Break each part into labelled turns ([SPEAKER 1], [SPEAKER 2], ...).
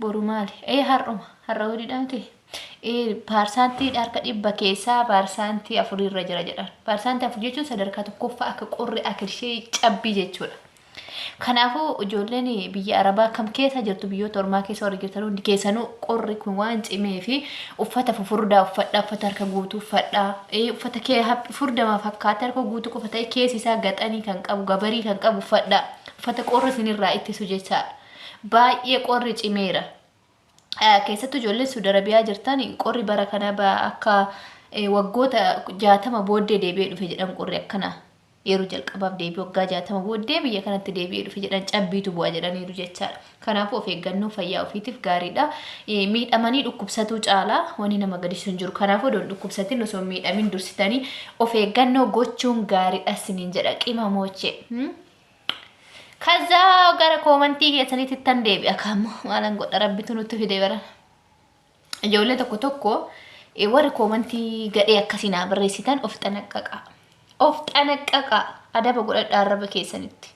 [SPEAKER 1] Boru maali? Ee har'uma. Har'a wiliidha miti? Ee paarsaantii harka dhibba keessaa paarsaantii afurii irra jira jedhan. Paarsaantii afur jechuun sadarkaa tokkoffaa akka qorri akka ishee cabbii jechuudha. Kanaafuu ijoolleen biyya Arabaa kam keessa jirtu biyyoota ormaa keessa warri jirtan hundi keessanuu qorri kun waan cimee fi uffata fufurdaa uffadhaa uffata harka guutuu uffadhaa ee uffata kee haphi furdamaa fakkaata harka guutuu qofa ta'e keessi isaa gaxanii kan qabu gabarii kan qabu uffadhaa uffata qorri isinirraa ittisu jechaadha. Baay'ee qorri cimeera. Keessattuu ijoolleen Suudi Arabiyaa jirtan qorri bara kana akka waggoota jaatama booddee deebi'ee dhufe jedhan qorri akkana yeroo jalqabaaf deebi'ee waggaa jaatama booddee biyya kanatti deebi'ee dhufe jedhan cabbiitu bu'a jedhaniiru jechaadha. Kanaafuu of eeggannoo fayyaa ofiitiif gaariidha. Miidhamanii dhukkubsatuu caalaa wanni nama gadisiisu hin jiru. Kanaafuu odoon dhukkubsatin osoo hin miidhamin dursitanii of eeggannoo gochuun gaariidha isiniin jedha qimamochee. Kaza gara koomantii keessanitti ittan deebi'a kaammoo maalan godha rabbitu nutti fide bara. Ijoollee tokko tokko eh, warri koomantii gadhee akkasii naa barreessitan of xanaqqaqaa. Of xanaqqaqaa adaba godhadhaa arraba keessanitti.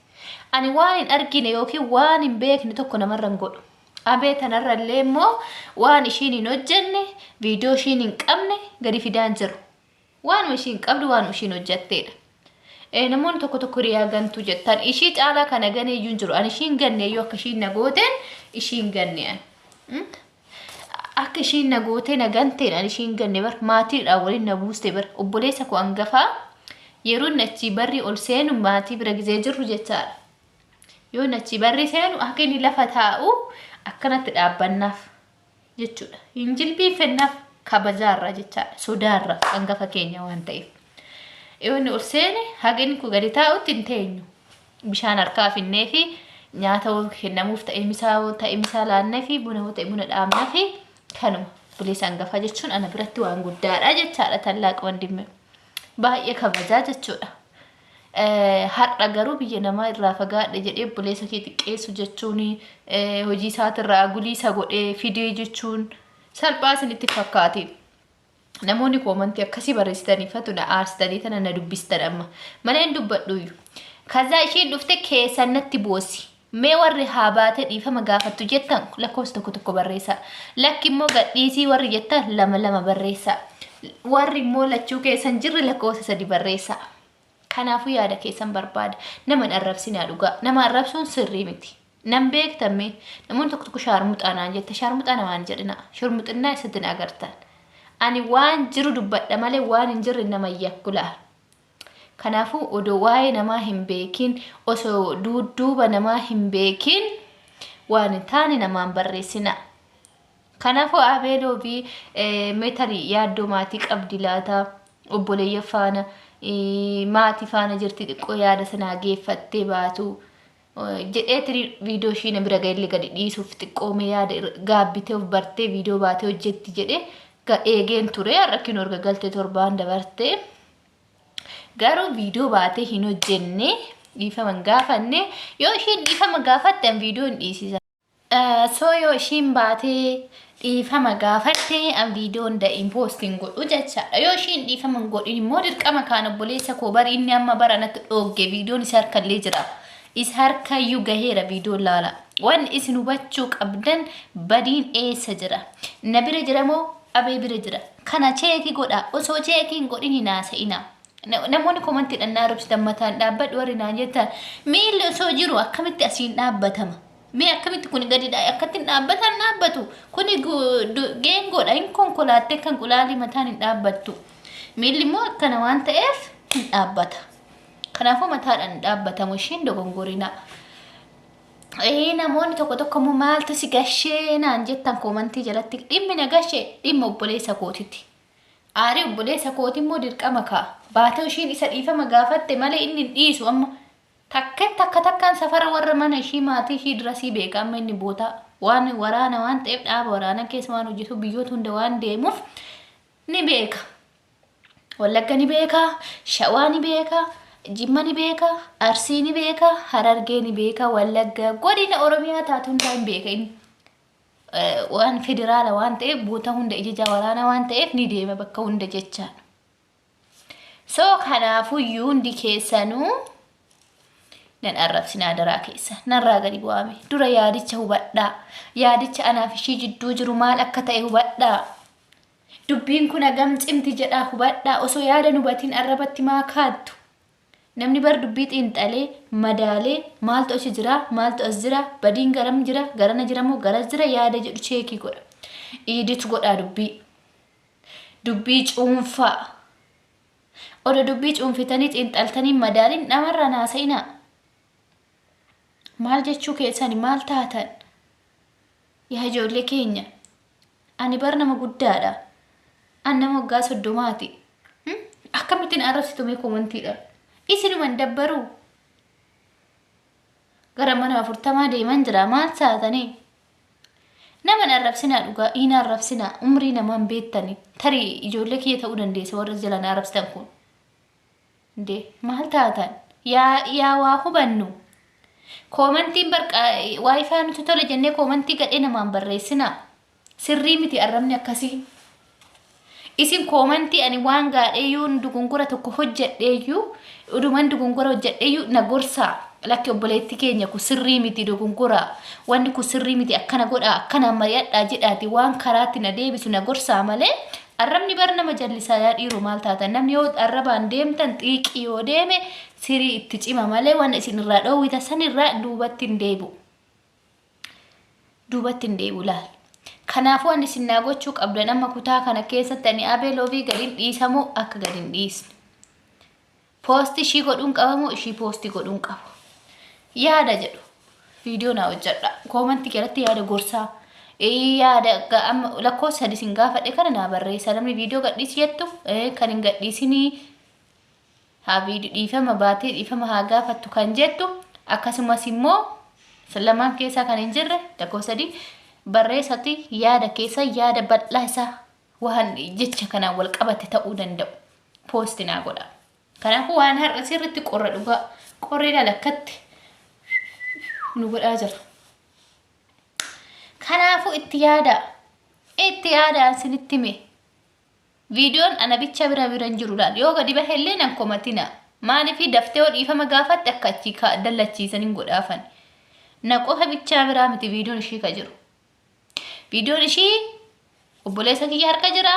[SPEAKER 1] Ani waan hin argine yookiin waan hin beekne tokko namarra hin godhu. Abee tanarra illee immoo waan ishiin hin hojjenne, viidiyoo ishiin hin qabne gadi fidaan jiru. Waanuma ishiin qabdu waanuma ishiin hojjatteedha. Eh, namoonni tokko tokko hiriyaa gantuu jettan ishii caalaa kana ganee iyyuu hin jiru an ishiin ganne iyyuu akka ishiin na gooteen ishiin ganne an. Mm? Akka ishiin na gootee na ganteen an ishiin ganne bar maatiidhaan waliin na buuste bar obboleessa koo angafaa yeroo inni achii barri ol seenu maatii bira gizee jirru jechaadha. Yoo inni achii barri seenu akka inni lafa taa'u akkanatti dhaabbannaaf. jechuudha. Hin jilbiifennaaf kabajaarraa jechaadha. Sodaarraa hangafa keenya waan ta'eef. Yoonni ol seene haga inni kun gadi taa'utti hin teenyu. Bishaan harkaa finnee fi nyaata hoo kennamuuf ta'e misaa hoo ta'e misaa laannee fi buna hoo ta'e buna dhaabnee fi kanuma. Obboleessa hangafa jechuun ana biratti waan guddaadha jechaadha tallaaq wandimmee. baay'ee kabajaa jechuudha. Har'a garuu biyya namaa irraa fagaadhe jedhee obboleessa kee xiqqeessu jechuun hojii isaatirraa guliisa godhee fidee jechuun salphaa isinitti fakkaatiin. Namoonni koomantii akkasii barreessitanii fatu na aarstanii tana na dubbistan amma. Mana hin dubbadhuuyyu. Kazaa ishiin dhufte keessan natti boosi. Mee warri haa baate dhiifama gaafattu jettan lakkoofsa tokko tokko barreessaa. Lakki immoo gadhiisii warri jettan lama lama barreessaa. Warri immoo lachuu keessan jirre lakkoofsa sadi barreessaa. Kanaafuu yaada keessan barbaada. Nama hin arrabsinaa dhugaa. Nama arrabsuun sirrii miti. Nan beektamme namoonni tokko tokko shaarmuxaa naan jette shaarmuxaa namaa hin jedhina. Shurmuxinnaa isatti na agartan. Ani waan jiru dubbadha malee waan hin jirre nama hin yakku laa. Kanaafuu odoo waa'ee namaa hin beekin, osoo duudduuba namaa hin beekin waan hin taane namaa hin barreessinaa. Kanaafuu Abeeloo fi mee tarii yaaddoo maatii qabdi laata obboleeyyan faana maatii faana jirti xiqqoo yaada sanaa geeffattee baatu. jedhee tirii viidiyoo ishii na bira ga'ellee gadi dhiisuuf xiqqoo mee yaada irra- gaabbitee of bartee viidiyoo baatee hojjetti jedhee ga- eegeen ture har'a kinoo erga galtee torbaan dabartee garuu viidiyoo baatee hin hojjenne dhiifama hin gaafanne yoo isheen dhiifama gaafatte an viidiyoo hin dhiisisa. So yoo ishiin baatee dhiifama gaafatte an viidiyoon da'iin poost hin godhu jechaadha. Yoo ishiin dhiifama hin godhin immoo dirqama kaan obboleessa koo bari inni amma bara natti dhoogge viidiyoon isa harka illee jira. Isa harka iyyuu gaheera viidiyoon laala. Wanni isin hubachuu qabdan badiin eessa jira? Na bira jira moo abee bira jira? Kana cheeki godha osoo cheeki hin godhin hin haasa'ina. Namoonni komantiidhaan na arrabsitan mataan dhaabbadhu warri naan jettan miilli osoo jiru akkamitti asiin dhaabbatama? Mee akkamitti kun gadi dha- akkatti hin dhaabbatan dhaabbatu? Kuni gu- du- geengoodha hin konkolaattee kan qulaalii mataan hin dhaabbattu. Miilli immoo akkana waan ta'eef hin dhaabbata. Kanaafuu mataadhaan hin dhaabbatamu isheen dogongorinaa. Ee namoonni tokko tokko immoo maaltu si gashee naan jettan koomantii jalatti dhimmi na gashee dhimma obboleessa kootiti. Aari obboleessa kooti immoo dirqama kaa. Baatoo ishiin isa dhiifama gaafatte malee inni hin dhiisu amma. Takken takka takkaan safara warra mana ishii maatii ishii dirasii beeka amma inni bootaa waan waraana waan ta'eef dhaaba waraana keessa waan hojjetu biyyoota hunda waan deemuuf ni beeka. Wallagga ni beeka, Shawaa ni beeka, Jimma ni beeka, Arsii ni beeka, Harargee ni beeka, Wallagga godina Oromiyaa taatu hundaa hin beeka inni. waan federaala waan ta'eef boota hunda ijajaa waraanaa waan ta'eef ni deema bakka hunda jechaan. So kanaafuyyuu hundi keessanuu nan arrabsin adaraa keessa narraa gadi bu'aame dura yaadicha hubadhaa yaadicha anaaf ishii jidduu jiru maal akka ta'e hubadhaa dubbiin kun hagam cimti jedhaa hubadhaa osoo yaada hubatiin arrabatti maa kaattu Namni bar dubbii xiinxalee, madaalee, maaltu achi jira, maaltu as jira, badiin garam jira, garana jira moo garas jira yaada jedhu cheekii godha. Edit godhaa dubbii. Dubbii cuunfaa. Odo dubbii cuunfitanii xiinxaltanii madaaliin dhamarraan haasa'inaa. Maal jechuu keessani maal taatan? Yaa ijoollee keenya Ani bar nama guddaadha. An nama waggaa soddomaati. Hmm? Akkamittiin arrabsitu mee komantiidhaan. Isinuma hin dabbaruu. Gara mana afurtamaa deeman jira. Maal saatanii? Nama hin arrabsinaa dhugaa. Hin arrabsinaa. Umrii namaan beektani. Tarii ijoollee kiyya ta'uu dandeessa warra jalaan arrabsitan kun. Nde maal taatan? Yaa yaa waa hubannu. Koomantiin barqa waayifaa nuti tole jennee koomantii gadhee namaan barreessina. Sirrii miti arrabni akkasii. Isin koomantii ani waan gaadhee yoo dugungura tokko hojjedheeyyuu uduman dugungura hojjedheeyyuu na gorsaa. Lakki obboleetti keenya kun sirrii miti dugungura. Wanni kun sirrii miti akkana godhaa akkanaan mari'adhaa jedhaati waan karaatti na deebisu na gorsaa malee Arrabni bar nama jallisaa yaa dhiiroo maal taatan namni yoo arrabaan deemtan xiiqii yoo deeme sirii itti cima malee waan isin irraa dhoowwita san irraa duubatti hin deebi'u. Duubatti hin deebi'u laal. Kanaafuu ani isin naa gochuu qabdan amma kutaa kana keessatti ani abee loovii gad hin dhiisamoo akka gad hin dhiisne. Post ishii godhuun qaba moo ishii post godhuun qaba? Yaada jedhu viidiyoo naa hojjedha. Koomantii jalatti yaada gorsaa. Ee, Yaada ga- amma lakkoofsa sadii isin gaafadhe kana naa barreessa. Namni viidiyoo gadhiisi jettu ee, kan hin gadhiisinii haa viidiyoo dhiifama baatee dhiifama haa gaafattu kan jettu akkasumas immoo san lamaan keessaa kan hin jirre lakkoofsa sadii barreessati yaada keessa yaada bal'aa isaa Waan jecha kanaan wal qabate ta'uu danda'u poosti naa godha. Kanaafuu waan har'a sirritti qorra dhugaa. Qorri ilaal akkatti nu godhaa jira. Kanaafuu itti yaadaa. Itti yaadaa sinitti mee. Viidiyoon ana bicha bira bira hin jiru laal. Yoo gadi bahe illee nan komatina. Maaliifii daftee yoo dhiifama gaafatte akka achii dallachiisan hin godhaafan. Na qofa bichaa biraa miti viidiyoon ishii ka jiru. Viidiyoon ishii obboleessa kiyya harka jira.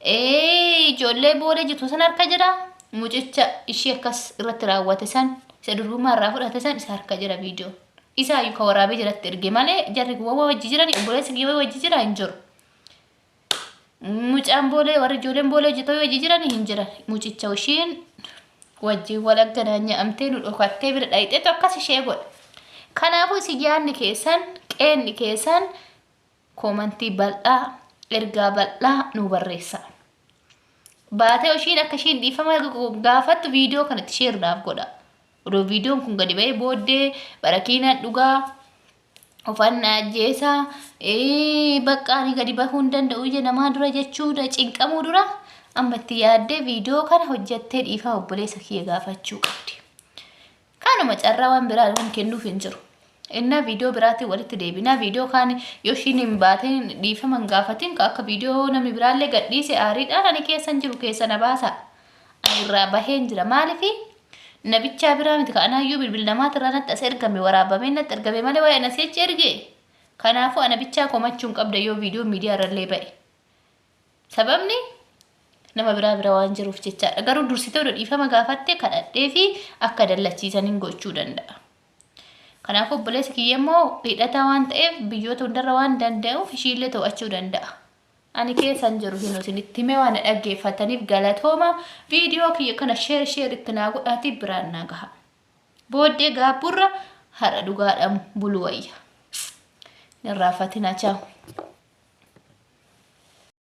[SPEAKER 1] Ee, Ijoollee booda jirtu san harka jira. Mucicha ishii akkas irratti raawwate san isa durbummaa irraa fudhate san isa harka jira viidiyoo. Isaa iyyuu ka waraabee jiratti erge malee jarri kun wawwa wajji jirani obboleessi kiyya wawwa wajji jira hin jiru. Mucaan boolee warri ijoolleen boolee hojjetoo yoo hojii jiran hin jiran. Mucicha ishiin wajjin wal agganaa nyaamtee nu dhokattee bira dhayixeetu akkas ishee godha. Kanaafuu isin yaadni keessan qeenni keessan koomantii bal'aa ergaa bal'aa nu barreessa. Baatee ishiin akka ishiin dhiifama gaafattu viidiyoo kanatti sheeru naaf godha. Odoo viidiyoon kun gadi ba'ee booddee barakiinaan dhugaa ofan na ajjeesa ee, bakka ani gadi bahuu hin danda'u ija namaa dura jechuudha cinqamuu dura amma itti yaaddee viidiyoo kana hojjattee dhiifama obboleessa kiyya gaafachuu qabdi. Kanuma carraa waan biraa waan kennuuf hin jiru. Innaa viidiyoo biraatiin walitti deebinaa viidiyoo kaan yoo ishiin hin baatiin dhiifama hin gaafatiin ka akka viidiyoo namni biraallee gadhiise aariidhaan ani keessan jiru keessa na baasa ani irraa baheen jira maalifi nabichaa biraa miti ka anaayyuu bilbil namaati irraa natti as ergame waraabamee natti ergame malee waa'ee na si'achi erge kanaafuu ana bichaa komachuu hin qabda yoo viidiyoo miidiyaa irrallee ba'e sababni nama biraa bira waan jiruuf jechaadha garuu dursitee odoo dhiifama gaafattee kadhadhee fi akka dallachiisan hin gochuu danda'a. Kanaafuu obboleessi kiyya immoo hidhataa waan ta'eef biyyoota hundarra waan danda'uuf ishiillee to'achuu danda'a. Ani keessan jiru hin isinitti himee waan na dhaggeeffataniif galatooma viidiyoo kiyya kana sheer sheer itti naa godhaatii biraan naa gaha. Booddee gaabburra har'a dhugaadhaan bulu wayya. Hin irraanfatinaa chaawu.